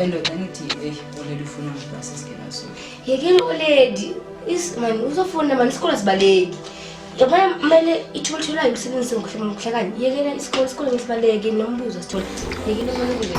Endoda ngithi hey oledi ufuna ukuthi basisingena so. Yekela oledi is man uzofuna man isikole sibaleki. Yabona kumele ithuba tholayo umsebenzi ngokuhluma ngokuhlakani. Yekela isikole isikole ngisibaleke nombuzo sithola. Yekela oledi.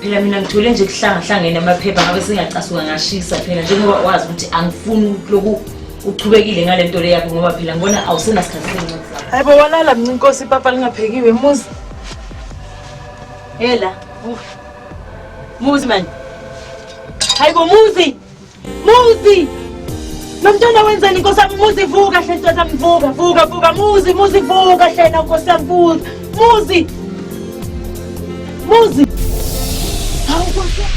phela mina ngithole nje kuhlangahlangene amaphepha ngabe singacasuka ngashisa phela njengoba wazi ukuthi angifuni loku uchubekile ngale nto le yakho ngoba phela ngibona awusenasikhathi sencwadi zakho hayi bo walala mnci inkosi ipapa lingaphekiwe muzi hela muzi mani hayi bo muzi Muzi! Nomntwana wenzeni inkosi yami muzi vuka hle ntokazi yami vuka vuka vuka muzi muzi vuka hle na nkosi yami vuka muzi muzi Hawu nkosi yami.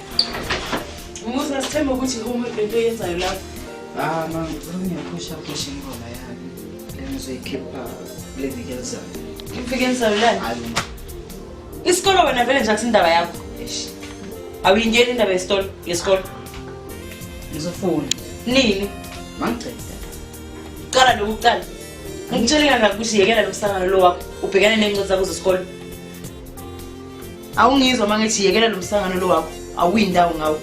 Umuzi asithembe ukuthi uma lento yenzayo lapho. Ah, mama, ngicela ungiyaphusha phusha ingoma yami. Le ngizoyikhipha le viki elizayo. Iviki elizayo lani? Hayi mama. Isikolo wena vele nje akusindaba yakho. Eish. Awuyingeni indaba yesitolo yesikolo. Ngizofunda. Nini? Mangicela. Qala lokuqala. Ngitshele kangaka ukuthi yekela lo msangano lo wakho. Ubhekane nenqoza kuzo isikole. awungizwa uma ngithi yekela lo msangano lo wakho awuyi ndawo ngawo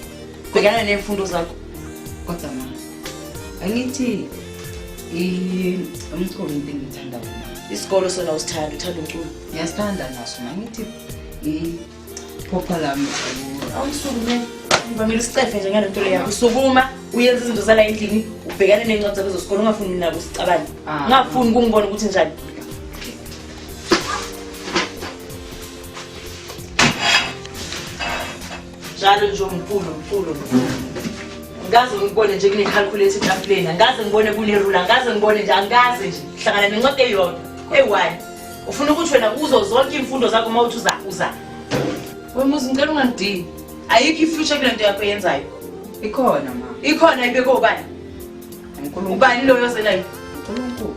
bhekana ney'mfundo zakho kodwa ma angithi umculo into engiyithanda wona isikolo sona usithanda uthanda umculo ngiyasithanda naso ma ngithi iphopha lami awusukumele ngivamile usicefe nje ngale nto le yakho usukuma uyenza izinto zala endlini ubhekane ney'ncwadi zakho zosikolo ungafuni nabo usicabane ah. ngafuni kungibona ukuthi njani njalo nje umkhulu mkhulu mkhulu ngikaze ngibone nje kunekhalkhulethi etafuleni angikaze ngibone kunerula angikaze ngibone nje angikaze nje hlangana nencwadi eyodwa eyi ufuna ukuthi wena kuzo zonke iy'mfundo zakho uma uthi uza uza wemuzi ngicela ungangidini ayikho ifuture kule nto yakho yenzayo ikhona ma ikhona ibekobani ubani loyo ozelayo unkulunkulu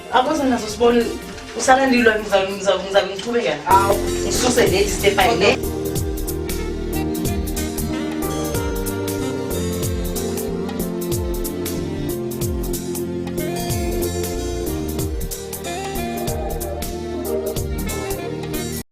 Akuze nazo sibone usala ndilwa ngizabe ngiqhubeka ngawo ngisuse late step by late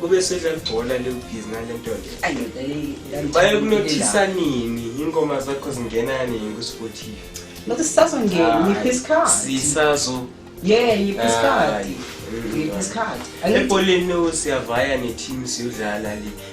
kube sedla libhola liwubhizi ngale nto le baye kunothisa nini ingoma zakho zingena nini kusifotive Look, it's doesn't get me his card. Sisazo. Yeah, you his card. You his card. Ebholeni siyavaya ne team siyodlala le.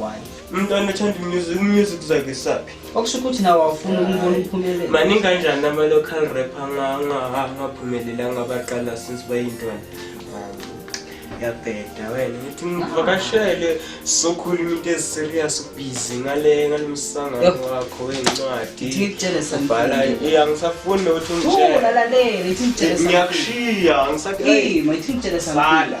why umntwana othanda umusic umusic zakhe saphi okusho ukuthi nawo awufuni ukumbona uphumelele maningi kanjani ama-local rap angaphumeleli angabaqala since bayintwana yabheda wena ngithi ngivakashele sokhuluma into eziserious ubhizi ngale ngalo msangano wakho wencwadi ubhala ya ngisafuni nokuthi ungitshele ngiyakushiya ngisakhala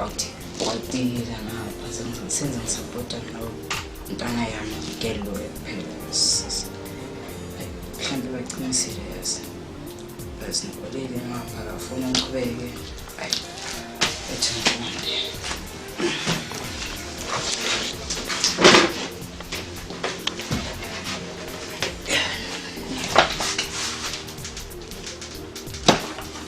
awuthi watilila ngapha senze ngisapota nawo ntana yami ngikelloyo kuphela mhlawumbe baqinisile yazi azingikoleli ngapha kafuna ngiqhubeke ayi ethi ngiqonde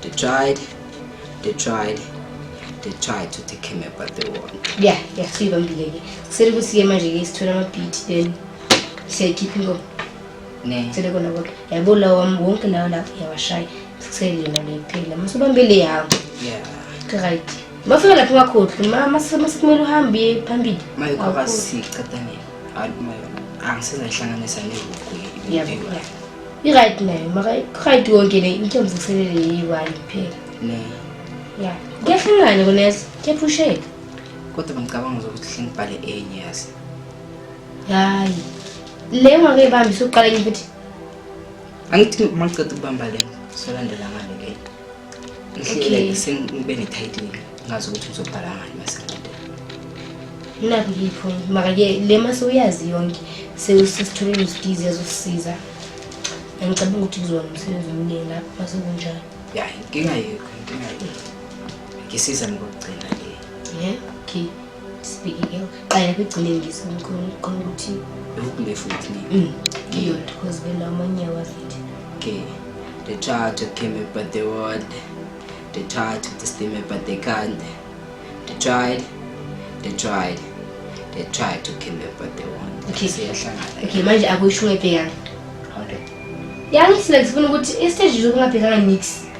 They tried, they tried, they tried to take him but they won. Yeah, yeah, so you're bambile. Sele kusiye manje ke sithola ama beat then say keep him go. Ne. Sele kona konke. Yabo la wam wonke lawo la yawashaya. Sikusele yena le phela. Mase bambile yawo. Yeah. Right. Mafika lapho makhohle, mama sekumele uhambe phambili. Maye kwaba siqedane. Hayi maye. Angisizahlanganisa nevuku. Yeah. i-right nayo maka-right yonke le into yomvuselele yeyi-one kuphela ya kuyahlangana kuneza kuyaphusheka kodwa bengicabanga zokuthi hle ngibhale enye yazi hayi le ungakeyibambi suqala enye futhi angithi maqeda ukubamba le solandela ngale ke Okay. Sengibe ne-title ngazi ukuthi uzobhala ngani masengiqede. Naku yipho maka ke le mase uyazi yonke sewusesitholeni usidizi yazosisiza. Angicabanga ukuthi kuzona umsebenzi omningi lapho mase kunjalo. Ya inkinga yekho inkinga yekho. Ngisiza ngokugcina le. Yeah. Okay. Sibhekeke qala kugcine ngizwe ngicela uqonda ukuthi lokule futhi ni. Mm. Ngiyona because bela omunye wafithi. Okay. They try to kill me but they won't. They try to disturb me but they can't. They tried. They tried. They tried to kill me but they won't. Okay. Siyahlangana. Okay, manje akusho ebhekana. How do? Yangisile ngifuna ukuthi i-stage izokungabhekana nix.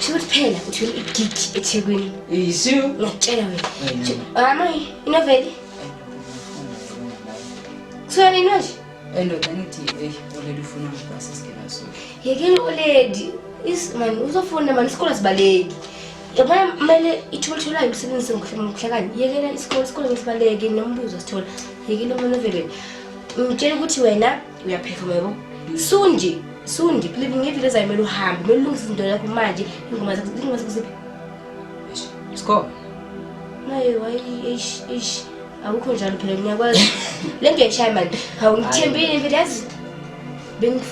Shuthi phela uthwele igigi eThekwini. Yisu. Ngiyakutshela wena. Mama, inoveli. Kuthiwa nini manje? Endoda ngithi hey oledi ufuna ngibhasi singena so. Yekeni oledi. Is man uzofuna man isikole sibaleki. Yabona kumele ithuba litholayo umsebenzi ngokuhlakani. Yekela isikole isikole ngisibaleke nombuzo sithola. Yekela umuntu ovelweni. Ngitshela ukuthi wena uyapheka yebo sundi sundi believe ngevile ezayo kumele uhambe kumele ulungise izinto yakho manje ingoma zakho ingoma zakho ziphi score naye wayi eish eish awukho njalo phela ngiyakwazi le nto yashaya mani awungithembile mfethu yazi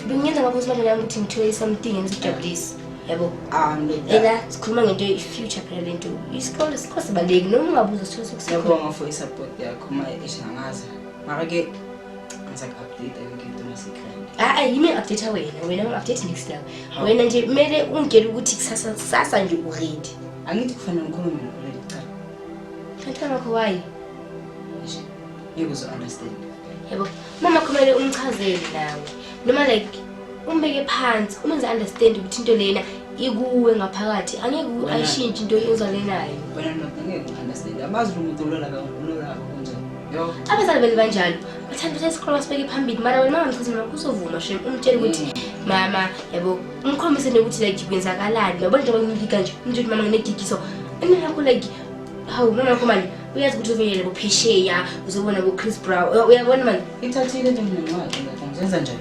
bengiyenza ngakho simanje nami ukuthi ngithole something engizojabulisa yabo ah, ena sikhuluma ngento i-future phela le nto isikole sikho sibaluleki noma ungabuza sithole sokusiyabonga for i-support yakho uma eshangaza mara-ke hayi yimi ngi-update wena wena ngi-update next now wena nje kumele ungitshele ukuthi kusasa kusasa nje uredi angithi kufanele ngikhulume nokuredi cha mfana wakho wayi yebo uzo-understand yebo mama kumele umchazele nawe noma like umbeke phansi umenze understand ukuthi into lena ikuwe ngaphakathi angeke ayishintshe into ozalenayo wena ndoda angeke understand amazi umuntu olala kakhulula kunjani abazali beli banjalo bathanda ukuthi isikolo basibeke phambili mara wena mangamthathi mina kusovuma shem umtshela ukuthi mm. mama yabo umkhombise nokuthi like kwenzakalani yabo njengoba ngimlika nje umtshela ukuthi mama nginedigiso imina yakho like hawu mama yakho mani uyazi ukuthi uzoyele bophesheya uzobona bo-chris brow uyabona mani ithathile into mnenwazi njenza njani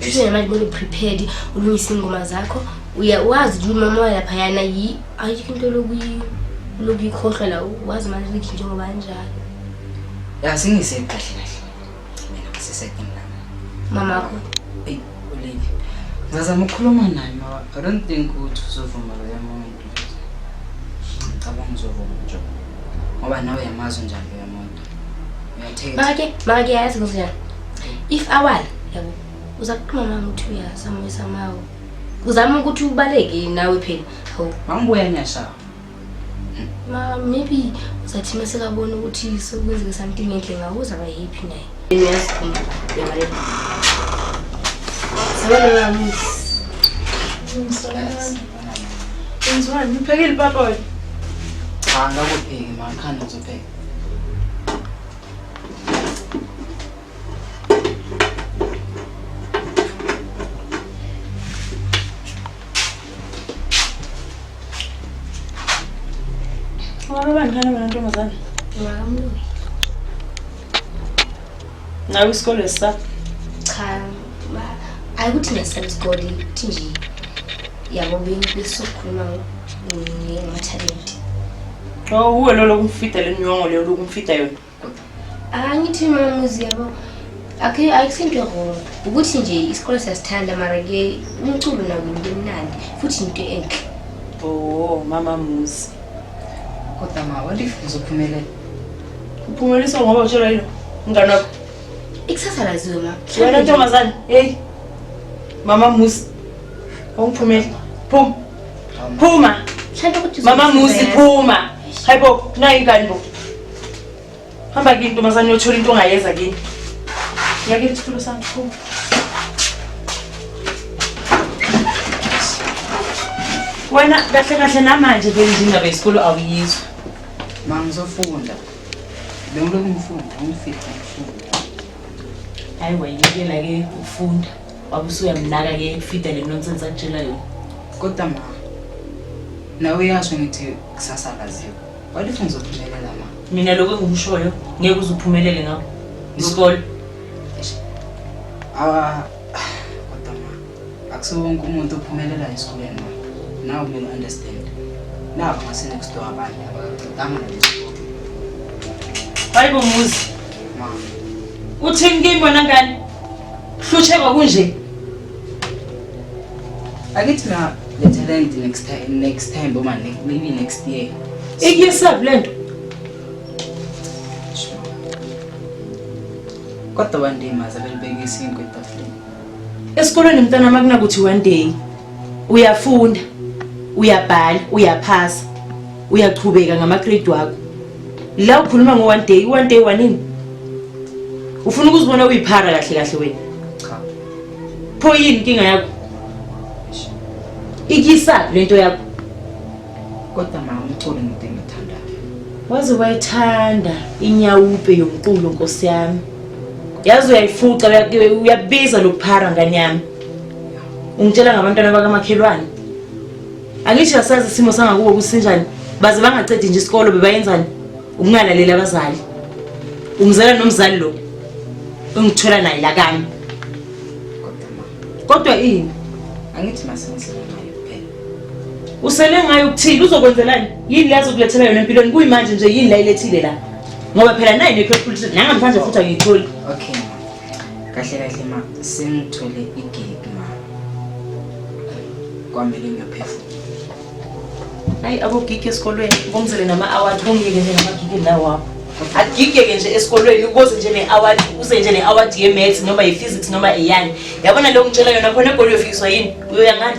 njengamanje kumele uprepared ulungise iy'ngoma zakho uyawazi ukuthi umama walaphayana yi ayikho into lokuyikhohlwa la wazi manje ukuthi njengoba anjalo ya singise kahle kahle mina ngisesekin lami mama wakho eyi uleli ngazama ukukhuluma naye mama i don't think ukuthi uzovuma loya muntu ngicabanga uzovuma nje ngoba nawe yamazi njani loya muntu Make, make yazi ngiziyani. If awala, yabo. Uza kuqhuma mama uthi uyasamisa mawo. Uzama ukuthi ubaleke nawe phela. Hawu. Mangibuya nyasha. Ma maybe uzathi mase kabona ukuthi sokwenzeka something enhle ngawe uzaba happy naye. Yini yasikhumba. Yabale. Sabona mama. Ngizwani, uphekile papa wena? Cha, ngakupheki manje, khanda uzopheka. nawe isikole sa cha ayikuthi ngesela isikole ukuthi nje yabo bengisokhuluma ngamathalenti Oh, uwe lo lokumfida le nyongo leyo lokumfida yona. Angithi mamuzi yabo. Akhe ayisinto wrong. Ukuthi nje isikole siyasithanda mara ke umculo nawo ngimnandi futhi into enhle. Oh, mama muzi. Kodwa ma walifu uzophumelela. Uphumelisa ngoba utshela yilo ngani wakho. Ikusasa laziwe ma. Wena ntombazane, hey. Mama muzi. Awuphumele. Phuma. Phuma. Shanda ukuthi Mama Muzi phuma. Hayibo, nayi ingane bo. Hamba kini ntombazane uyothola into ongayeza kini. Ngiyake isitulo sami phuma. Wena kahle kahle namanje ke indaba yesikole awuyizwa. Ma ngizofunda. Bengilokhu ngifunda, ngifika ngifunda. Hayi wayekela ke ukufunda. Baba usuyamnaka ke ekufida le nonsense akutshela yona. Kodwa ma. Nawe uyasho ngithi kusasa kaziwa. Walifu ngizophumelela ma. Mina lokho engikushoyo ngeke uzuphumelele ngakho. Isikole. Ah kodwa ma. Akusiwo wonke umuntu ophumelela esikoleni ma. Now we understand. Now ngase next door abanye abaqedanga nalesikoleni. Hayibo Muzi. Uthini kimi wena ngane? Kuhlutshekwa kunje. Akithi na le talent next time next time boma maybe next year. Ikuyesave lento. Kodwa bandima zabelibekisa inkwe etafuleni. Esikolweni mntana makunakuthi one day uyafunda uyabhala uyaphasa uyachubeka ngamagrade wakho la ukhuluma ngo-one day i-one day wanini ufuna ukuzibona uyiphara kahle kahle wena pho yini inkinga yakho ikisa le nto yakho Kodwa mama umculo into engithandayo. Waze wayithanda inyawupe yomculo Nkosi yami. Yazi uyayifuca uyabiza lokuphara ngane yami. Ungitshela ngabantwana bakamakhelwane. Angisho yasazi isimo sangakubo kusinjani. Baze bangacedi nje isikolo bebayenzani? Ukungalaleli abazali. Ungizela nomzali lo. Ungithola naye la kami. Kodwa ini? Angithi masenze. Usele ngayo ukuthini uzokwenzelani? Yini lezo kulethela yona empilweni kuyimanje nje yini la ilethile la? Ngoba phela nayi nekho futhi nanga mfanje futhi angiyitholi. Okay. Kahle kahle ma sengithole igig ma. Kwamele ngiyaphefumula. Hayi abogigi esikolweni ngomzele nama award kungike nje ngamagigi lawo apho. agigeke nje esikolweni uboze nje ne-award uze nje ne-award ye-maths noma ye-physics noma eyani yabona leyo ngitshela yona khona egoli uyofiswa yini uyoya ngani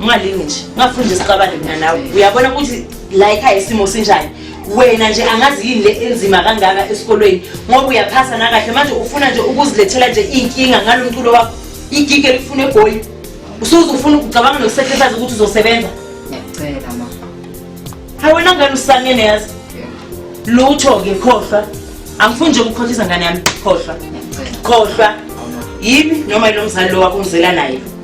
ungalingi nje ungafuni nje sixabane mina nawe uyabona ukuthi la ekhaya isimo sinjani wena nje angazi yini le enzima kangaka esikolweni ngoba uyaphasa nakahle manje ufuna nje ukuzilethela nje iy'nkinga ngalo mculo wakho igigi elifuna egoli usuze ufuna ukucabanga nokusekhehlisazi ukuthi uzosebenza ngiyacela ma hayi wena ngani usangene yazi lutho-ke khohlwa angifuni nje ukukhohlisa ngane yami khohlwa khohlwa yimi noma yilo mzali lo wakho ngizela naye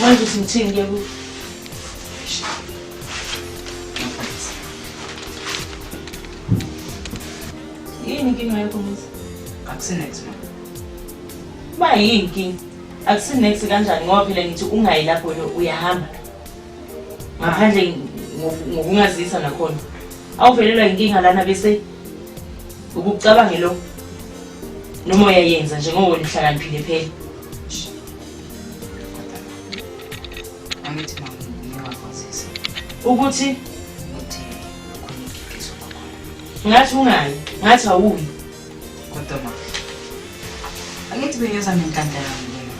Manje uthi ngithini ke ku? Yini inkinga yakho mfethu? Akusinex ma. Ba yini inkinga? Akusinex kanjani ngoba phela ngithi ungayi lapho uyahamba. Ngaphandle ngokungazisa nakhona. Awuvelelwa inkinga lana bese ukucabangelo noma uyayenza njengoba wena uhlakaniphile phela. angithi mangiyakwazisa ukuthi ukuthi khona igigiso kwakhona ngathi ungayi ngathi awuyi kodwa ma angithi beyeza nenhlanhla yami lena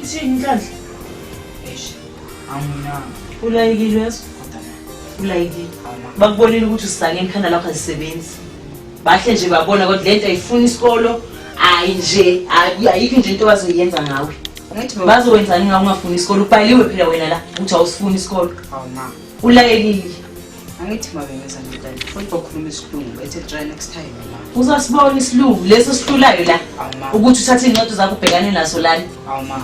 ithini inhlanhla eish angina ulayikile yazi kodwa ulayikile bakubonile ukuthi usake ekhanda lakho azisebenzi bahle nje babona kodwa lento ayifuni isikolo hayi nje ayikho nje into bazoyenza ngawe bazowenzani ngawe ungafuni isikolo ubhaliwe phela wena la ukuthi awusifuni isikolo ulayekile angithi mabengenza njani futhi bakhuluma isilungu bethe try next time ma uzasibona isilungu leso sihlulayo la ukuthi uthathe iy'ncwadi zakho ubhekane naso lani awu ma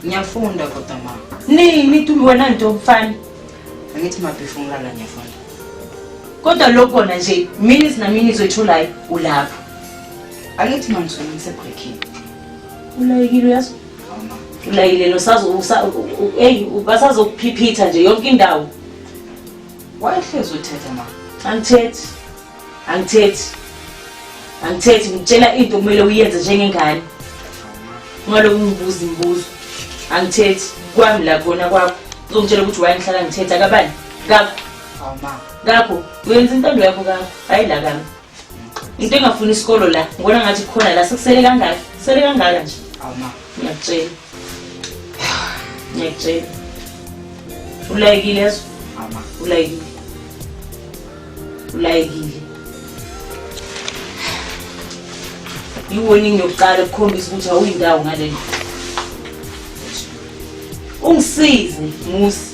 ngiyafunda kodwa ma nini wena nto mfana Angithi mabhifu umlala ngiyafunda. Kodwa lokhu kona nje minutes na minutes oyitholayo ulapho. Angithi mangizona ngisebreaking. Ulayikile uyazi? Ulayile no sazo hey basazokuphiphiitha nje yonke indawo. Wayehlezi uthetha mama. Angithethi. angithethi angithethi ngitshela into kumele uyenze njengengane ungaloku ngibuza imibuzo angithethi kwami la kona kwakho uzongitshela ukuthi wayengihlala ngithetha kabani kakho kakho uyenza intando yakho kakho hhayi la kami into engafuni isikolo la ngibona ngathi khona la sekusele kangaka kusele kangaka nje ngiyakutshela ngiyakutshela ulayekile ezwa ulayekile ulayekile iwoningi yokuqala ukukhombisa ukuthi awuyindawo ngaleli ungisize musi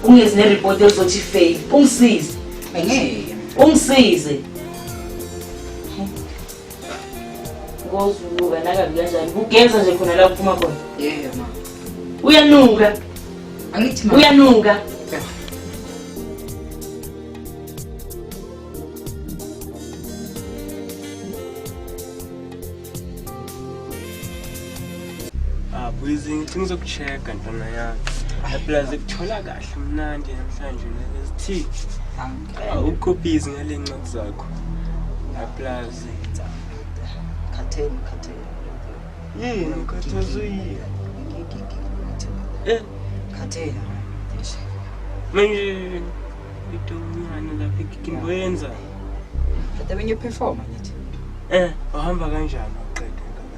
ungezi neripoti ezothi fail ungisize angeke ungisize Ngozunuka nakabi kanjani? Kugeza nje khona la kuphuma khona. Yebo ma. Uyanuka. Angithi ma. Uyanuka. abwizi ngicela ukucheck-a ntwana yami plus kuthola kahle mnandi namhlanje nalesithi ukophizi ngale ncwadi zakho plus khatheni khatheni yini ukhathazwe yini eh khatheni manje into omncane lapha ikimbo yenza But then when you perform, I need to. eh uhamba kanjani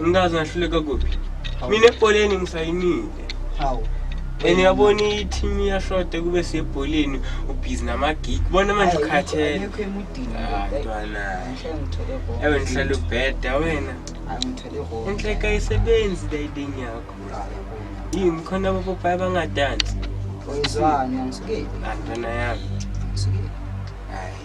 Umntazi ngahluleka kuphi? Mina ebholeni ngisayinile. Hawu. And yabona i-team iyashoda kube sebholeni ubhizi nama-gig. Bona manje ukhathele. Ayikho emudini. Ah, ntwana. Ngihle ngithole wrong. Ewe nihlala ubheda wena. Hayi ngithole wrong. Inhleka ayisebenzi leyiding yakho. Yini khona abopopayi abangadansi? Oyizwani angisuke. Ah, ntwana yami. Ngisuke. Hayi.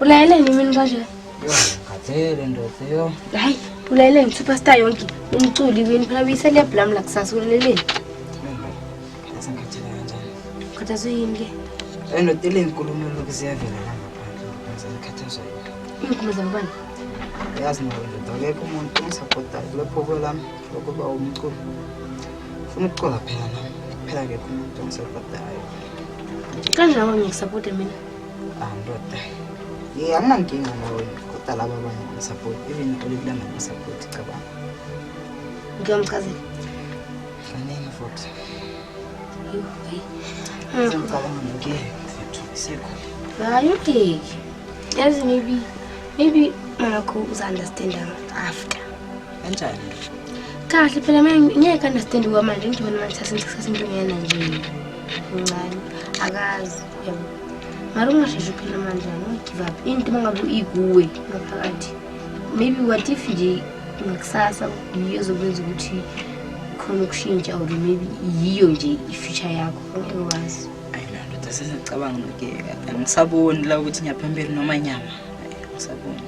ulayeleni mina kanje ngikhathele ndoda yo hayi ulayeleni superstar yonke umculi wini phela uyiselebhu lami la kusasa ulaleleni sengikhathele kanjani ukhathazwe yini ke endoda elinkulumo lokhu ziyavela la ngaphandle ngikhathazwa yini iinkulumo zabobani yazi nawe ndoda akekho umuntu ongisaphotayo kulapho kwelami lokuba umculi funa ukucula phela nami phela akekho umuntu ongisaphotayo kanjani ngikusapota mina andoda ah, ye anginankinga nawe kodwa laba abanye ngisapoti even ngicela kulanda ngisapoti cabanga ngiyomchazela fanele futhi ngicabanga ngeke sekho hayi ungeki yazi maybe maybe makho uza-understanda after kanjani kahle phela ngeke understand kwamanje ngidibona manje thatha ngisikhathi into ngiyena nje mncane akazi yabo mara ungasheshe uphela manje angigive up into uma ngabe ikuwe ngaphakathi maybe what if nje ngakusasa yiyo ezokwenza ukuthi khona ukushintsha or maybe yiyo nje i-future yakho ngeke wazi ayinandoda sesicabanga noke angisaboni la ukuthi ngiyaphambili noma nyama angisaboni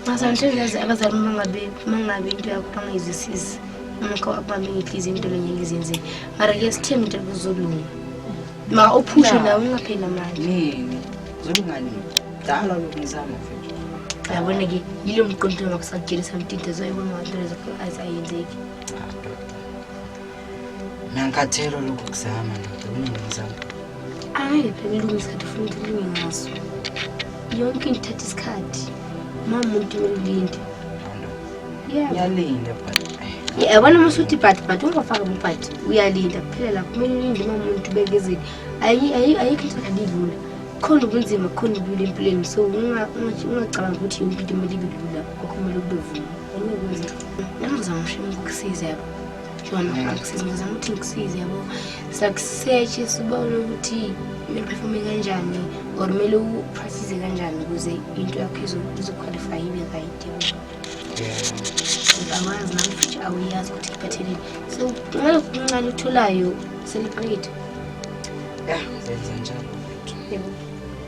masantezazi abazali mangabe mangabe into yakho bangayizwisisi umkho akubambe ngidliza into lenye ngizenzele mara ke sithembe into kuzolunga Ma uphushe la ungapheli namanje. Yini? Zolungani? Dala lokungizama mfethu. Yabona ke yilo mqondo wakho sakutshela samtinte zoyibona ngathi lezo eyes ayenzeki. Nankathelo lokuzama ndoda kunengizama. Hayi phela ilungisa ukuthi ufuna ukuthi linge ngaso. Yonke into ithatha isikhathi. Mamuntu ulinde. ngiyalinda yabona uma usuthi ibhadi bhadi ungafaki ubhadi uyalinda kuphela lapho kumele ulinde uma umuntu ubekezeli ayikho into kalilula khona ubunzima khona ubulula empilweni so ungacabanga ukuthi yonke into kumele ibe lula kokho kumele kube vuma anyekwenzeka nami ngizama usho ukukusiza yabo jona akusiza ngizama ukuthi ngikusize yabo sakusetshe sibone ukuthi kumele uphefome kanjani or kumele upractise kanjani ukuze into yakho izoqualify ibe right awazi nami futhi awuyazi ukuthi kuphatheleni so kumele kunxa lutholayo seliqeda ya ngenza njalo yebo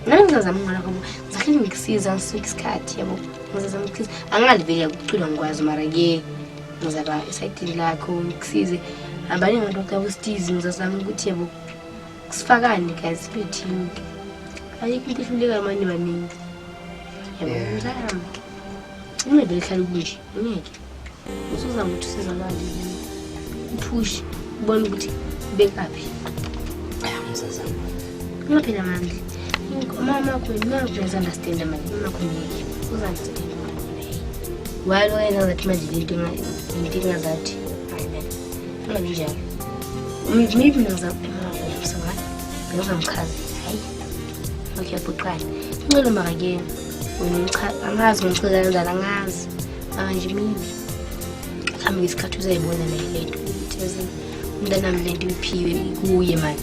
nami ngizazama ngala kwabo ngizahleli ngikusiza ngisuke isikhathi yabo ngizazama ngikusiza angingaliveli yakucula ngikwazi mara ke ngizaba esayidini lakho ngikusize abaningi abantu bakabositizi ngizazama ukuthi yabo sifakane guys sibe team ayikho into ehlulekayo manje baningi ungeke lihlale kunje ungeke usuzama ukuthi usizakale uphushe ubone ukuthi bekaphi ungaphela mandla umama wakho imakho uyazi-understanda manje imakho ngeke uzi-understanda walo yenza ngathi manje lento inkinga zathi ungabi njalo maybe ngizamsawala ngizamchaza okay buqala ncelo makakeni angazi ngimcheka kanjani angazi manje mina mhlawumbe ngesikhathi uzayibona naye le nto ukuthi yazi umntanami le nto iphiwe kuye mani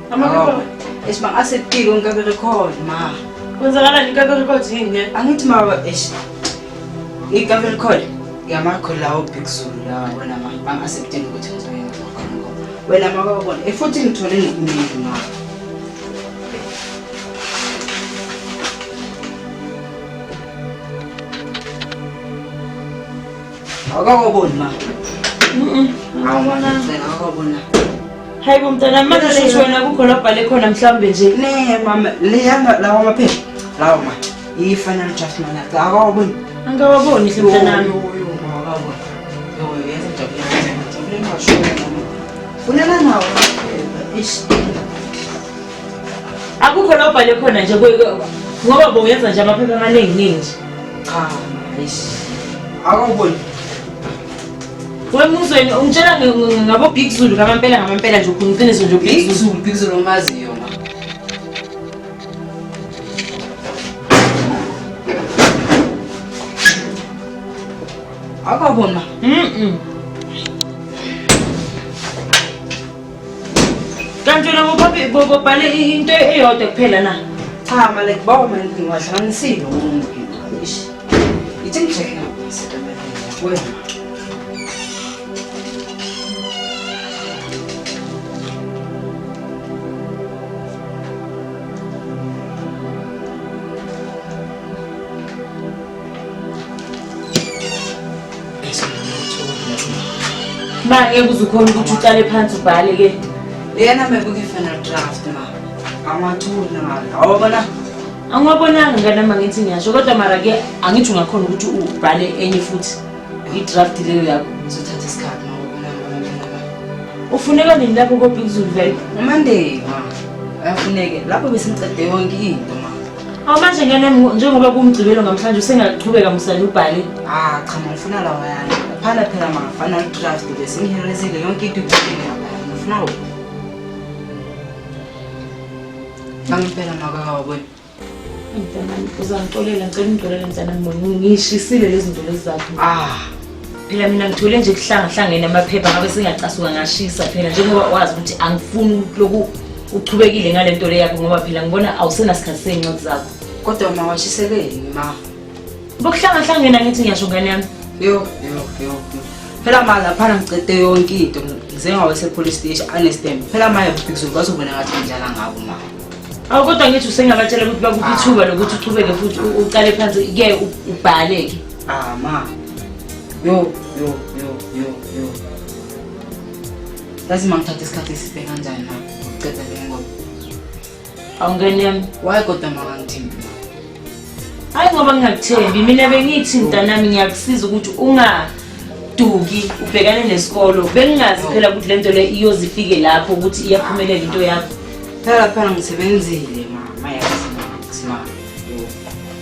Eish ma asetile ngikabe record ma. Kwenzakala ngikabe record yini ne? Angithi ma eish. Ngikabe record. Yamakho lawo big zulu la wena ma ma asetile ukuthi ngizoyenza khona ngo. Wena ma babona efuthi eh, ngithole nokuningi ma. Awukakoboni ma. Awubona. Awukakobona. Hayi bo mntana manje shuthi wena kukho labhale khona mhlawumbe nje. Ne mama leyana lawa maphepha. Lawa ma. Yi-final draft mana. Awukakoboni. Angikawaboni hle mntanami. Funana nawo. Ish. akukho la ubhale khona nje ngoba boyenza nje amaphepha amaningi ningi nje cha ayishi akawuboni wemuzweni ungitshela ngabo big zulu ngamampela ngamampela nje ukhona iqiniso nje big zulu big zulu omaziyo akabona mm, -mm. kanti wena bobabe- bo- bobhale i- into eyodwa kuphela na cha male kubawa mani ngiwahlanganisile umuntu ish ithi ngijeke wena ma ngeke uze ukhona ukuthi uqale phansi ubhale ke leyana mekuke-final draft ma angiwatholi namali awabona angiwabonanga nganama ngithi ngiyasho kodwa mara ke angithi ungakhona ukuthi ubhale enye futhi i-draft leyo yakho izothatha isikhathi ufuneka nini lapho kobhikuzulu vele umandela uyafuneke lapho besimcede yonke into Awu manje ngene njengoba kumgcibelo namhlanje usengaqhubeka musani ubhale. Ah cha ngifuna lawa yani. Phana phela mangafana udraft bese ngihilezile yonke into iphile lapha. Ngifuna wo. Angibhela makawa wena. Mntanami uzangixolela ngicela ungixolele mntanami ngishisile lezi ndolo zakho. Ah phela mina ngithole nje kuhlangahlangene amaphepha ngabe singacasuka ngashisa phela njengoba wazi ukuthi angifuni lokhu uchubekile ngale nto le yakho ngoba phela ngibona awusenasikhathi sey'ncwadi zakho kodwa uma washiselwe yini ma bokuhlangahlangena ngithi ngiyasho ngane yami yo yo yo phela ma laphana ngicede yonke into ngizengawesepolice stage anestem phela maye bhikizulu bazobona ngathi ngidlala ngabo ma awu kodwa ngithi usengabatshela ukuthi bakuphi ithuba lokuthi uchubeke futhi uqale phansi ke ubhale-ke Ah ma. Yo yo yo yo yo. Yazi mangithatha isikhathi eside kanjani na uceda le ngoba. Awungeni yami. Why kodwa makangithembi? Hayi ngoba ngingakuthembi mina bengithi mntanami ngiyakusiza ukuthi unga duki ubhekane nesikolo bengingazi phela ukuthi lento le iyozifike lapho ukuthi iyaphumelela into yakho phela phela ngisebenzile mama yazi mama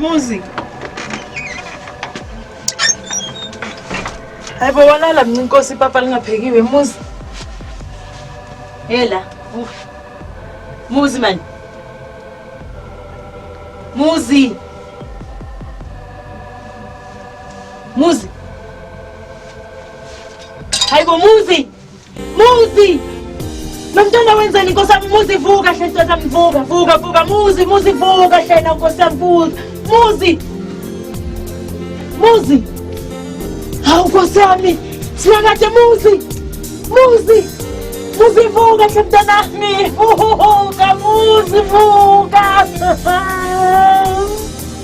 Muzi. Hayi bo walala mina inkosi ipapa lingaphekiwe muzi. Hela. Uh. Muzi man. Muzi. Muzi. Hayi bo muzi. Muzi! Nomntwana wenzani Nkosi yami muzi vuka hle ntokazi yami vuka vuka vuka muzi muzi vuka hle na Nkosi yami vuka muzi muzi hawu Nkosi yami sinakade muzi muzi muzi vuka hle mntanami vuka muzi vuka